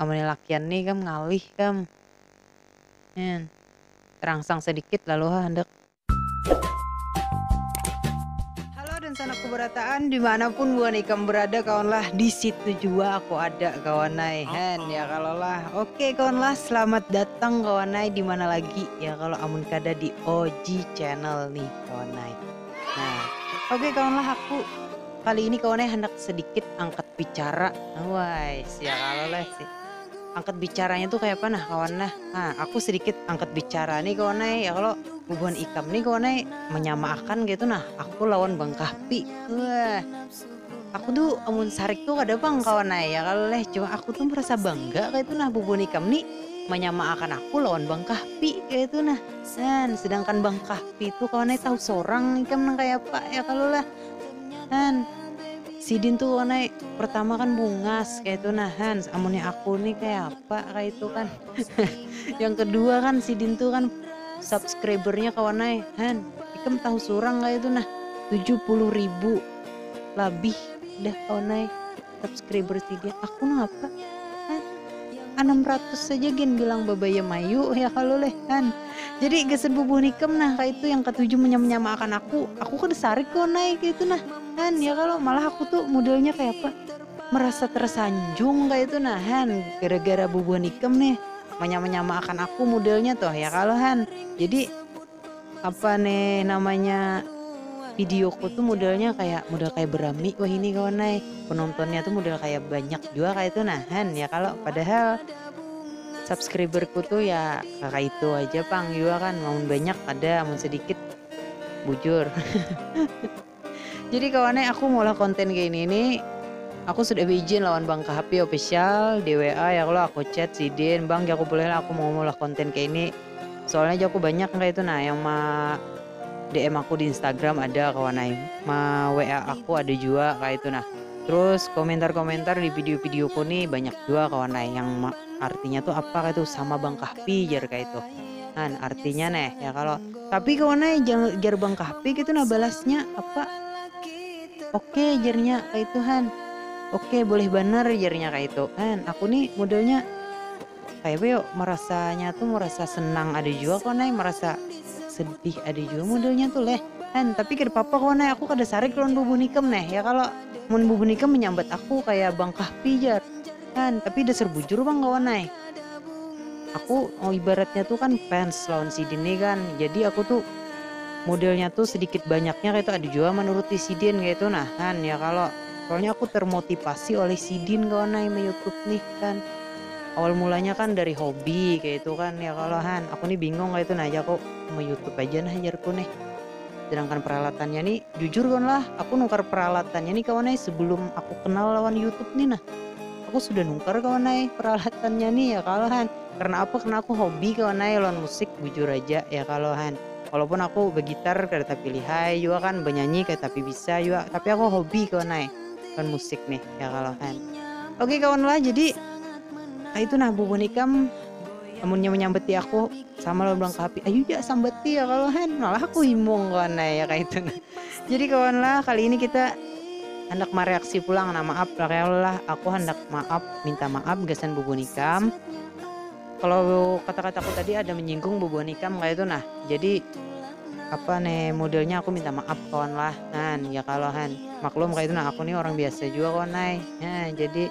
Amunnya lakian nih kam ngalih kam. Nyan. Terangsang sedikit lalu ha handak. Halo dan sanak kubarataan dimanapun buhan ikam berada kawanlah disitu jua aku ada kawanai hen ya kalo lah ok kawanlah selamat datang kawanai dimana lagi ya kalo amun kada di og channel nih kawanai nah ok kawanlah aku. Kali ini kawan ai handak sedikit angkat bicara, wais ya kalo lah si angkat bicaranya tu kayapa nah kawan nah, ha aku sedikit angkat bicara ni kawan ai ya kalo, bubuhan ikam ni kawan ai manyamaakan kaitu nah aku lawan bang kahfi, wah aku tu amun sarik tu kada pang kawan ai ya kalo leh cuma aku tu merasa bangga kaitu nah bubuhan ikam ni manyamaakan aku lawan bang kahfi kaitu nah, ha sedangkan bang kahfi tu kawan ai tahu sorang ikam nang kayapa ya kalo lah. Han, sidin tuh onai pertama kan bungas kayak itu nah Han, amunnya aku nih kayak apa kayak itu kan. yang kedua kan sidin tuh kan subscribernya kawanai Han, ikam tahu surang kayak itu nah tujuh puluh ribu lebih dah kawanai. subscriber tiga aku ngapa kan enam ratus saja gen bilang babaya mayu ya kalau leh kan jadi gasan bubuh nikam nah kayak itu yang ketujuh menyama akan aku aku kan sarik kau naik itu nah kan ya kalau malah aku tuh modelnya kayak apa merasa tersanjung kayak itu nah kan gara-gara bubuh nikam nih menyama akan aku modelnya tuh ya kalau kan jadi Apa ne namanya videoku tuh modelnya kayak model kayak berami wah ini kawan nai penontonnya tuh model kayak banyak juga kayak itu nahan ya kalau padahal subscriberku tuh ya kakak itu aja pang juga kan mau banyak ada mau sedikit bujur Jadi kawan ai aku maulah konten kaya ini ni aku sudah beijin lawan bang Kahapi official di WA ya kalo aku chat sidin bang jaku boleh lah aku mau maulah konten kaya ini soalnya jaku banyak yang kaya itu nah yang ma DM aku di instagram ada kawan ai ma WA aku ada jua kaya itu nah terus komentar komentar di video video ku ni banyak jua kawan ai yang ma artinya tu apa kaya itu sama bang Kahpi jar kaya itu nah artinya neh ya kalo. Tapi kawan ai, jar Bang Kahpik itu nah balasnya, apa, oke jarnya kaitu han, oke boleh banar jarnya kaitu kan, aku ni modelnya kaya apa yo marasanya tu marasa senang ada jua kawan ai, marasa sedih ada jua modelnya tu leh han, tapi kada papa kawan ai aku kada sarik lawan bubuhan ikam neh ya kalo, mun bubuhan ikam manyambat aku kaya Bang Kahpi jar. Kan, tapi dasar bujur pang kawan ai. Aku ibaratnya tu kan fans lawan sidin ni kan, jadi aku tu modelnya tu sedikit banyaknya kaya tu ada jua manuruti sidin kaya tu nah kan, ya kalo. Soalnya aku termotivasi oleh sidin kawan ai meyoutube nih kan. Awal mulanya kan dari hobi kaya tu kan, ya kalo han. Aku ni bingung kaya tu nah jaku, meyoutube aja nah jarku nih. Sedangkan peralatannya ni, jujur kawan lah, aku nukar peralatannya ni kawan ai sebelum aku kenal lawan YouTube ni nah. Aku sudah nukar kawan ai peralatannya ni ya kalo han. Karena apa, karena aku hobi kawan ai lawan musik bujur aja ya kalo han. Walaupun aku begitar kada tapi lihai jua kan, benyanyi kada tapi bisa jua, tapi aku hobi kawan ai lawan musik nih ya kalo han. Oke kawan lah, jadi kaitu nah bubuhan ikam. amunnya menyambeti aku sama lawan bilang kapi ayu ja sambeti ya kalau hen malah aku himung kawan nah ya kayak itu nah jadi kawan lah kali ini kita hendak mereaksi pulang nah maaf lah kayak lah aku hendak maaf minta maaf gasan bubuhan ikam kalau kata-kataku tadi ada menyinggung bubuhan ikam kayak itu nah jadi apa nih modelnya aku minta maaf kawan lah nah ya kalau hen maklum kayak itu nah aku nih orang biasa juga kawan nah ya, jadi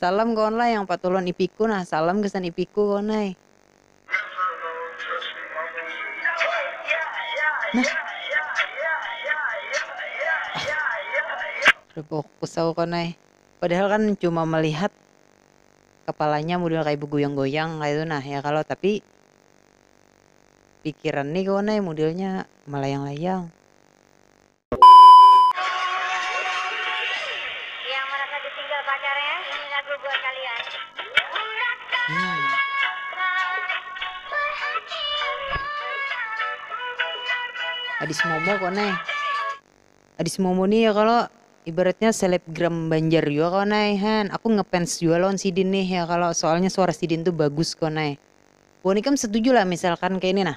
Salam kawan lah yang patuh lawan ipiku nah salam gasan ipiku kawan ai. Ripuk kusau kawan ai. Padahal kan cuma melihat kapalanya mudel kaya begoyang goyang kaya tu nah ya kalo tapi pikiran ni kawan ai mudelnya melayang layang. Adis Momo kok nai Adis Momo nih ya kalo ibaratnya selebgram banjar jua kok nai han aku ngefans jua lawan sidin nih ya kalo soalnya suara sidin tuh bagus kok nai wan ikam setuju lah misalkan kaya ini nah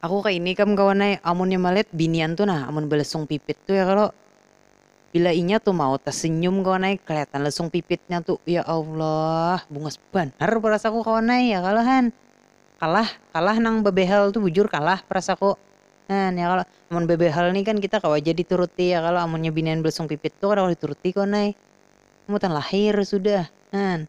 Aku ka ini kam kawan ai, amunnya malihat binian tu nah amun balesung pipit tu ya kalo, bila inya tu mau tasenyum kawan ai kaliatan lesung pipitnya tu ya Allah bungas banar perasaku kawan ai ya kalo han, kalah kalah nang babehel tu bujur kalah perasaku han ya kalo, amun babehel ni kan kita kawa ja dituruti ya kalo amunnya binian balesung pipit tu kada kawa dituruti kawan ai, mutan lahir sudah han.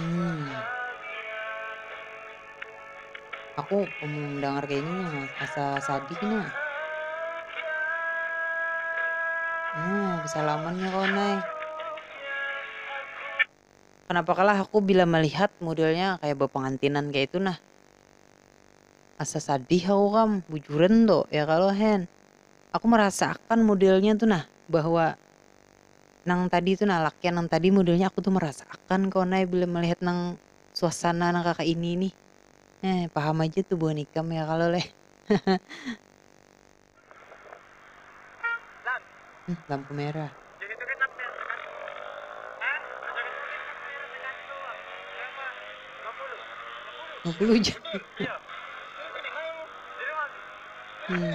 Hmm. Aku mendengar kayak ini nah, asa sadih nah. Hmm, salamannya kawan nay. Kenapa kalah aku bila melihat modelnya kayak berpengantinan kayak itu nah. Asa sadih aku kam, bujuran tuh ya kalau hen. Aku merasakan modelnya tuh nah bahwa nang tadi tu nah lakian nang tadi modelnya aku tu merasa akan kawan ai bila melihat nang suasana nang kaka ini nih eh paham aja tu buhan ikam ya kalo leh lampu merah. Lima puluh jam. hmm.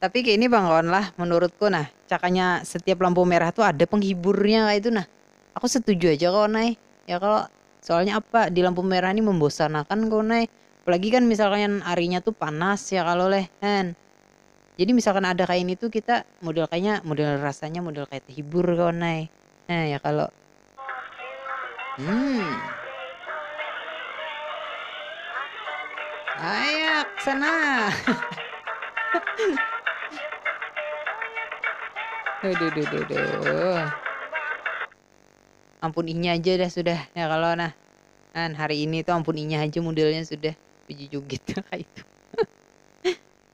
Tapi kini pang kawan lah, menurutku nah, cakanya setiap lampu merah tu ada penghiburnya kaitu nah. Aku setuju aja kawan ai, ya kalo? Soalnya apa, di lampu merah ni membosanakan kawan ai, apalagi kan misalkan arinya tu panas ya kalo leh kan. Jadi misalkan ada kaya ini tu kita model kayanya model rasanya model kaya tehibur kawan ai, nah ya kalo? Hmm. Ayak sana. duh, duh, duh, duh, duh. Ampun inya aja dah sudah ya kalau nah kan hari ini tuh ampun inya aja modelnya sudah biji jugit kayak itu.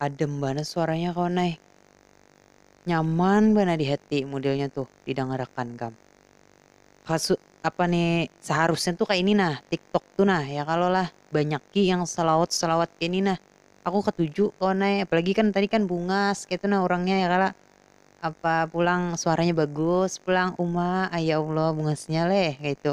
Adem banar suaranya kawan ai. Nyaman banar di hati modelnya tuh di dangar akan kam. Kasu apa ni seharusnya tuh kayak ini nah tiktok tuh nah ya kalo lah banyaki yang selawat selawat kayak ini nah aku ketuju kawan ai apalagi kan tadi kan bungas kayak itu nah orangnya ya kalo apa pulang suaranya bagus pulang uma ai ya allah bungasnya leh kayak itu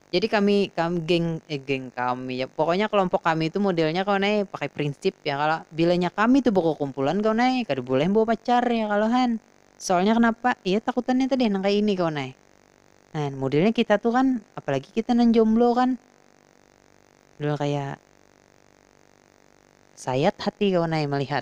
Jadi kami kami geng eh geng kami ya pokoknya kelompok kami itu modelnya kawan ai pakai prinsip ya kalo bilanya kami tu bakukumpulan kawan ai kada boleh bawa pacar ya kalo han soalnya kenapa iya takutannya tadi nang kaya ini kawan ai nah modelnya kita tu kan apalagi kita nang jomblo kan model kaya sayat hati kawan ai malihat.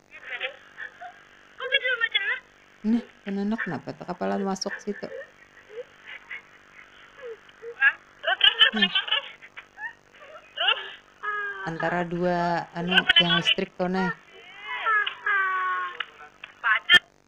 Nah, penanak napa tuh kapalan masuk situ? Hmm. Antara dua anu yang listrik tuh nah.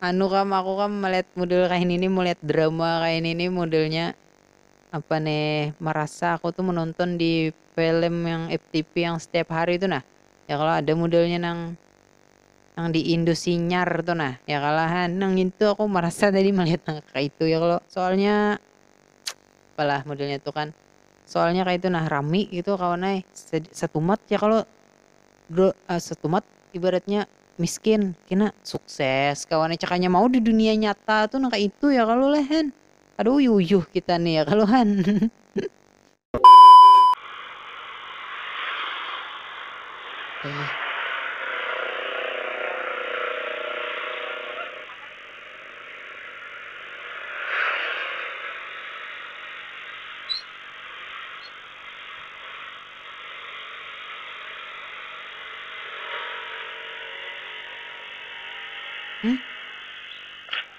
Anu kam aku kam melihat model kaya ini melihat drama kaya ini modelnya apa nih merasa aku tuh menonton di film yang FTP yang setiap hari tuh nah ya kalau ada modelnya nang nang di Indo sinyar tuh nah ya kalahan nang itu aku merasa tadi melihat nang kayak itu ya kalau soalnya apalah modelnya tuh kan Soalnya kaitu nah rami gitu kawan ai satumat ya kalo satumat ibaratnya miskin kina sukses kawan ai cakanya mau di dunia nyata tu nang kaitu ya kalo leh han kada uyuh uyuh kita nih ya kalo han.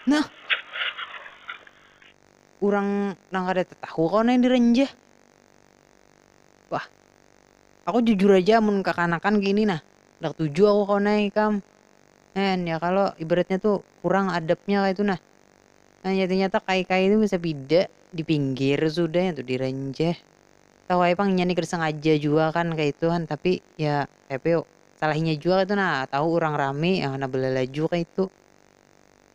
Nah, urang nang kada tatahu kawa nang diranjah. Wah, aku jujur aja amun kakanakan kini nah, handak tuju aku kawa nang ikam. N ya kalo ibaratnya tu kurang adabnya kaitu nah nyata nyata kai kai tu bisa pida di pinggir sudah ya tu di renjeh tahu ai pang inya ni kada sengaja jua kan kaitu han tapi ya kayapa yo salah inya jua kaitu nah tahu urang rami nah belalaju kaitu.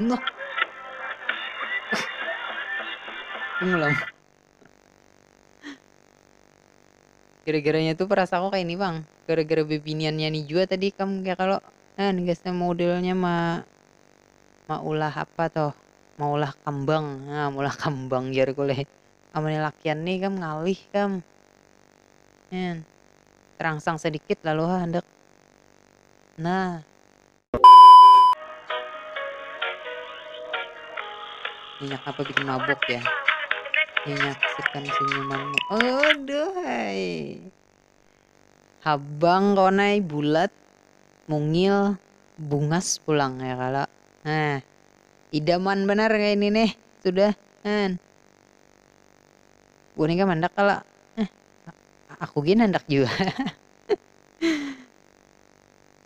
Nah. Mengulang. Gara-garanya tuh perasa aku kayak ini bang. Gara-gara bebiniannya nih juga tadi kamu kayak kalau eh gasnya modelnya mah maulah apa toh maulah kambang nah maulah kambang jar kuleh amunnya lakian nih kam ngalih kam nyan terangsang sedikit lalu ha handak nah minyak apa bikin mabuk ya minyak sekan senyumanmu aduh hai Habang kawan ai, bulat, mungil, bungas pulang ya kalo. Nah, idaman banar kaini nih sudah kan. Buhan ikam handak kalo? Nah, aku gin handak jua.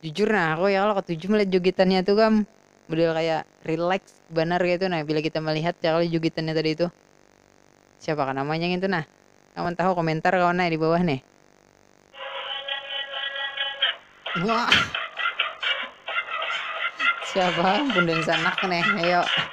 jujur nah aku ya kalo katuju melihat jogetannya tuh kam, model kaya relax banar kaya itu nah bila kita melihat ya kalo jogetannya tadi tuh, siapakah namanya ngintu nah, nang mantahu komentar kawan ai dibawah nih. Siapa ampun dansanak nih ayo.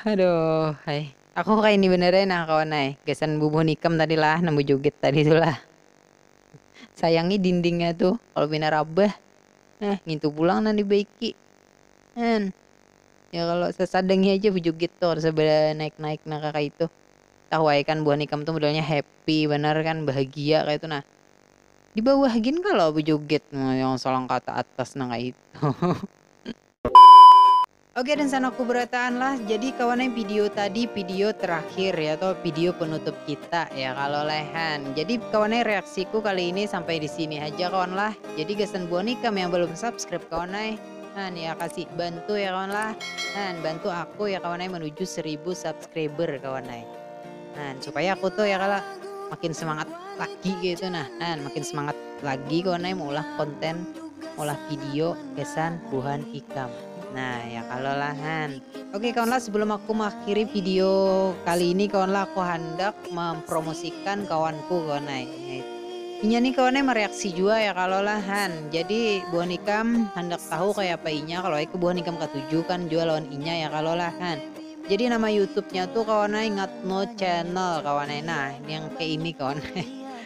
Haduh ai. Aku kaini banar ai nah kawan ai. Gasan bubuhan ikam tadi lah nang bajugit tadi tu lah. Sayangi dindingnya tu kalu pina rabah nah ngintu pulang nang dibaiki. An. Ya kalo sasadangi aja bajugit tu kada usah banaik-naik nang kaya kaitu. Tahu ai kan buhan ikam tu modelnya happy banar kan bahagia kaya itu nah. Di bawah gin kalo bajugit. Nah yang salangkata atas nang kaya itu. Oke dan sana kuberataan lah jadi kawannya video tadi video terakhir ya atau video penutup kita ya kalau lehan jadi kawannya reaksiku kali ini sampai di sini aja kawan lah jadi gasan buah nikam yang belum subscribe kawannya han ya kasih bantu ya kawan lah han bantu aku ya kawannya menuju 1000 subscriber kawannya han supaya aku tuh ya kalau makin semangat lagi gitu nah han makin semangat lagi kawannya mau ulah konten ulah video gasan buhan ikam Nah ya kalau lah Han. Oke kawan lah sebelum aku mengakhiri video kali ini kawan lah aku hendak mempromosikan kawanku kawan lah. Inya nih kawannya mereaksi juga ya kalau lah Han. Jadi buah nikam hendak tahu kayak apa inya kalau aku buah nikam ketujuh kan juga lawan inya ya kalau lah Han. Jadi nama YouTube-nya tuh kawan ingat no channel kawan nah yang kayak ini kawan.